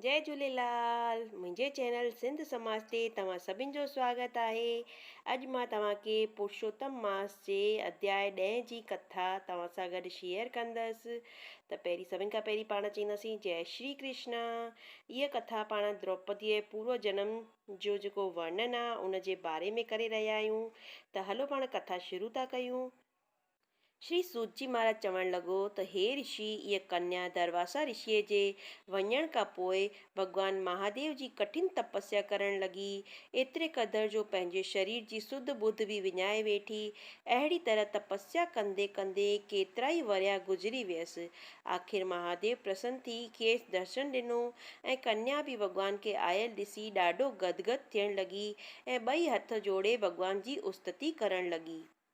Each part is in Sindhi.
جئي جهوليلال منهنجي چينل سنڌ سماج تي توهان سڀن جو سواگت آهي اڄ مان توهان کي پرشوتم ماس جي اڌياء ڏهين جي ڪٿا توهان سان گڏ شيئر ڪندس ته پهرين سڀن کان پهرين پاڻ چئينداسين جئي شري ڪرشنا هيء ڪٿا پاڻ دروپديء پورو جنم جو جيڪو ورنن آهي ان جي باري ۾ ڪري رهيا آهيون ته هلو پاڻ ڪٿا شروع ٿا ڪيون شري سوت جي مھاراج چوڻ لڳو ته ھي رشي اھا ڪنيا درواثا رشيء جي وڃڻ کان پوء ڀڳوان مھاديو جي ڪٺن تپسيا ڪرڻ لڳي، ايتري قدر جو پنھنجي شرير جي سڌ ٻڌ به وڃائي ويٺي. اھڙي طرح تپسيا ڪندي ڪندي ڪيترائي ورھيا گذري ويس. آخر مھاديو پرسن ٿي کيس درشن ڏنو ۽ ڪنيا به ڀڳوان کي آيل ڏسي ڏاڍو گد گد ٿيڻ لڳي ۽ ٻئي ھٿ جوڙي ڀڳوان جي استتي ڪرڻ لڳي.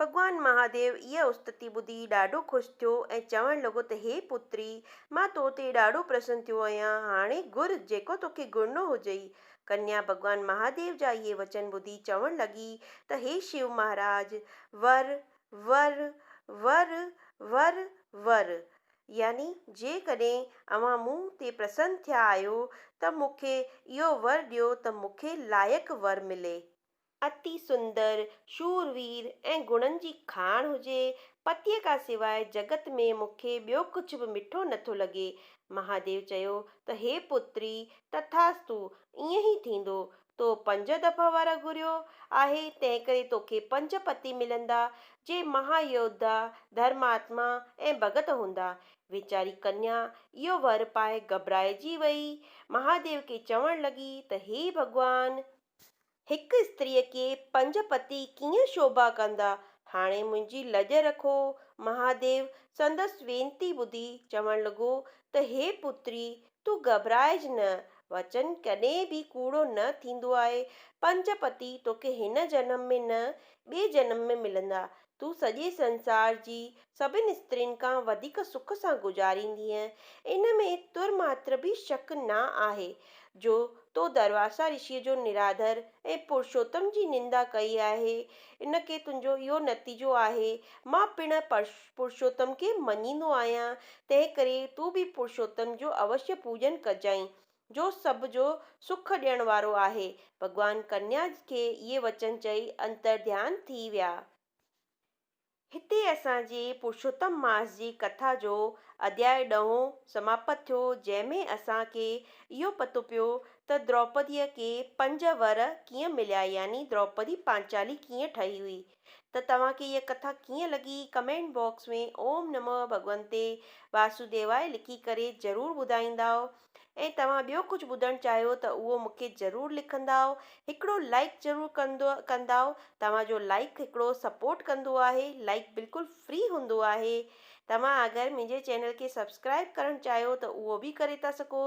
ڀڳوان مهاديو اها استتي ٻڌي ڏاڍو خوش ٿيو ۽ چوڻ لڳو ته هي پوتري! مان تو تي ڏاڍو پرسن ٿيو آهيان، هاڻي گهر جيڪو توکي گهرڻو هجئي. ڪنيا ڀڳوان مهاديو جا اهي وچن ٻڌي چوڻ لڳي ته هي شيو مهاراج! ور، ور، ور، ور، ور. يعني جيڪڏهن اوهان مون تي پرسن ٿيا آهيو ته مون کي اهو ور ڏيو ته مون کي لائق ور ملي. اتي سندر، شوروير ۽ گڻن جي کاڻ هجي، پتيء کان سواء جڳت ۾ مون کي ٻيو ڪجهه به مٺو نه ٿو لڳي. مهاديو چيو ته هي پوتري، تٿاستو، ائين ئي ٿيندو. تو پنج دفعا ور گهريو آهي، تنهنڪري توکي پنج پتي ملندا، جي مها يوڌا، ڌرماتما ۽ ڀڳت هوندا. ويچاري ڪنيا اهو ور پائي گهٻرائجي ويئي. مهاديو کي چوڻ لڳي ته هي ڀڳوان! هڪ استريء ڪي پنج پتي ڪيئن شوڀا ڪندا؟ هاڻي منهنجي لڄ رکو. مهاديو سندس وينتي ٻڌي چوڻ لڳو ته هي پتري، تون گهٻرائج نه. وچن ڪڏهن به ڪوڙو نه ٿيندو آهي. پنج پتي توکي هن جنم ۾ نه، ٻئي جنم ۾ ملندا. تون سڄي سنسار جي سڀن استرين کان وڌيڪ سک سان گذاريندينء، ان ۾ تر ماتر به شڪ نه آهي، جو تو درواسا رشيء جو نرادر ۽ پرشوتم جي نندا ڪئي آهي، ان کي تنهنجو اهو نتيجو آهي. مان پڻ پرشوتم کي مڃيندو آهيان، تنهنڪري تون به پرشوتم جو اوشيه پوڄن ڪجانء، جو سڀ جو سک ڏيڻ وارو آهي. ڀڳوان ڪنيا کي اهي وچن چئي انترڌيان ٿي ويا. هتي اسان جي پرشوتم ماس جي ڪٿا جو اڌياء ڏهون سماپت ٿيو جنهن ۾ اسان کي اهو پتو پيو ته دروپديء کي پنج ور ڪيئن مليا يعني دروپدي پانچالي ڪيئن ٺهي هئي ته توهان کي هيء ڪٿا ڪيئن لڳي ڪمينٽ باڪس ۾ اوم نموء ڀڳونتي واسوديواء لکي ڪري ضرور ٻڌائيندائو ۽ توهان ٻيو ڪجهه ٻڌڻ چاهيو ته اهو مون کي ضرور لکندائو هڪڙو لائيڪ ضرور ڪندو ڪندائو توهان جو لائيڪ هڪڙو سپورٽ ڪندو آهي لائيڪ بلڪل فري هوندو آهي توهان اگر منهنجي چينل کي سبسڪرائيب ڪرڻ چاهيو ته اهو به ڪري ٿا سگهو